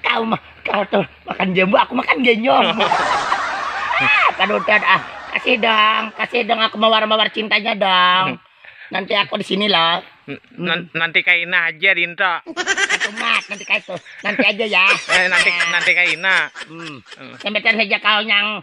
kau mah kau tuh makan jambu aku makan genyong ah panutan ah kasih dong kasih dong aku mawar mawar cintanya dong nanti aku di sini loh N- nanti kaina aja dinto itu mat nanti kau itu nanti aja ya eh, nanti nanti kaina hmm. hmm. sampai saja kau yang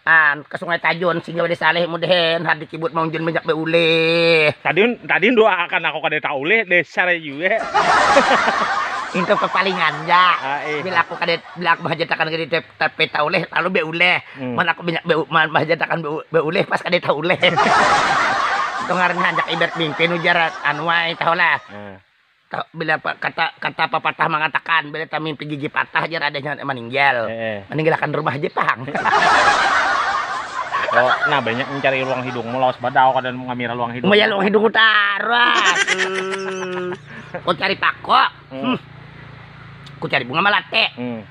An, ka sungai tajun singgah pada saleh mudahan hadi kibut mang jun banyak bauleh tadi tadi dua akan aku kada tauleh dasar jua itu kepalingan ja ah, iya. bila aku kada bila aku bahajatakan kada tapi tauleh lalu bauleh hmm. mana aku banyak bau man bahajatakan bauleh pas kada tauleh itu ngarannya hanjak ibat mimpin ujar anuai tahulah hmm. Bila kata kata pepatah mangatakan bila tamimpi gigi patah jar adanya maninggal. Heeh. Maninggalkan rumah haja pang. Yo, nah banyak mencari luang hidungmu lawas banar aku kada mengamira luang hidung. Maya luang hidungku taras. Hmm. Ku cari pako. Hmm. Ku cari bunga malate. Hmm.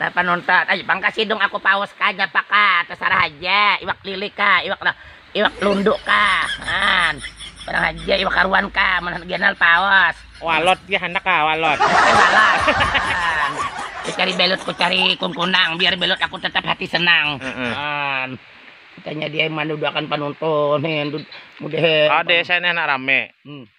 Nah panonton, ai pang kasidung aku paus kah japa kah tasarah haja, iwak lili kah, iwak iwak lundu kah, haan barang haja iwak haruan kah mun handak ganal paus. Walot ja handak kah walot. Ai walot, haan kucari belut kucari kungkunang biar belut aku tetap hati senang, haan tanya di ai manduduakan panonton he, mudah he. Kalo di sini handak rame.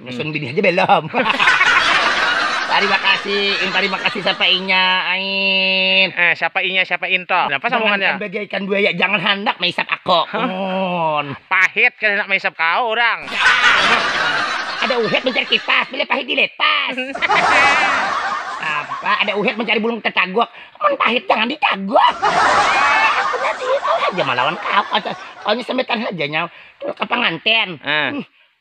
Nyusun bini aja belom. Tarima kasih, in tarima kasih siapa inya, ain. Eh, siapa inya, siapa in to. Napa sambungannya? Jangan bagaikan buaya, jangan handak maisap ako. Mun. Pahit kada handak maisap kao urang. ada uhet mencari kipas, bila pahit dilepas. Apa, ada uhet mencari bulung tetagok. Mun pahit jangan ditagok. Aku nasi, tahu haja malawan kao. Kaunya sambetan haja nyau. Tulak ka panganten. Eh. Hmm.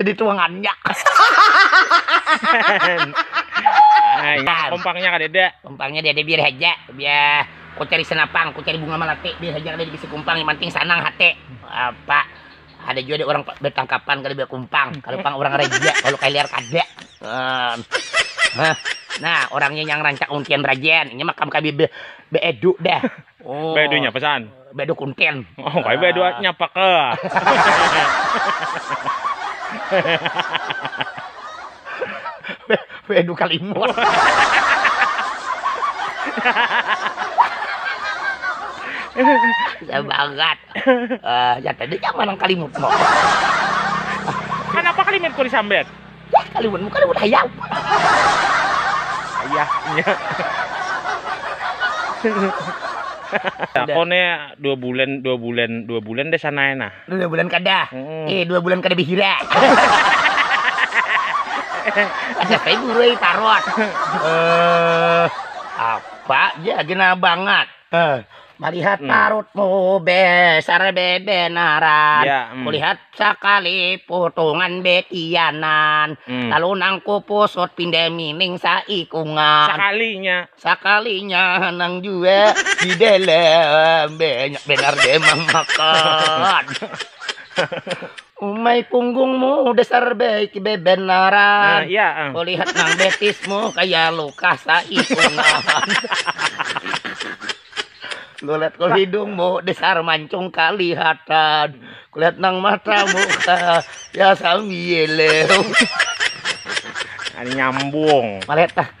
Jadi tuangannya. Nah, kompangnya kada ada. Kompangnya dia ada biar aja. Biar ku cari senapang, ku cari bunga melati, biar aja kada dibisi kumpang, yang penting sanang hati. Apa? Ada juga ada orang bertangkapan kada biar kumpang, kalau pang orang raja, kalau kaliar kada. Um, nah, orangnya yang rancak untian rajan, ini makam kabi be, be edu dah. Oh. Baya dunya pesan. Baya do kunten. Oh, kaya baya dua nyapa ke. Baya do kalimut. Saya bangat. Eh, ya tadi nyaman ang kalimut mo. Kanapa kalimut ku disambet? Wah, kaliwun mu kaliwun hayam. Ayahnya. Aku nih dua bulan, dua bulan, dua bulan deh sana ya nah. Dua bulan kada. Hmm. Eh, dua bulan kada bihira. Ada kayak guru yang tarot. Eh, apa? Dia gena banget. Eh, Melihat hmm. parutmu besar bebenaran ya, hmm. Kulihat sekali potongan bekianan hmm. Lalu nang kupusut pindah mining saikungan Sekalinya Sekalinya nang jua di dalam Banyak benar demang makan Umai punggungmu dasar baik bebenaran. Nah, iya. Ah. Kulihat nang betismu kaya luka saikungan. Kulihat kul hidungmu dasar mancung kalihatan. Kulihat nang matamu kaya sambieleu. Nyambung. Malihat tah.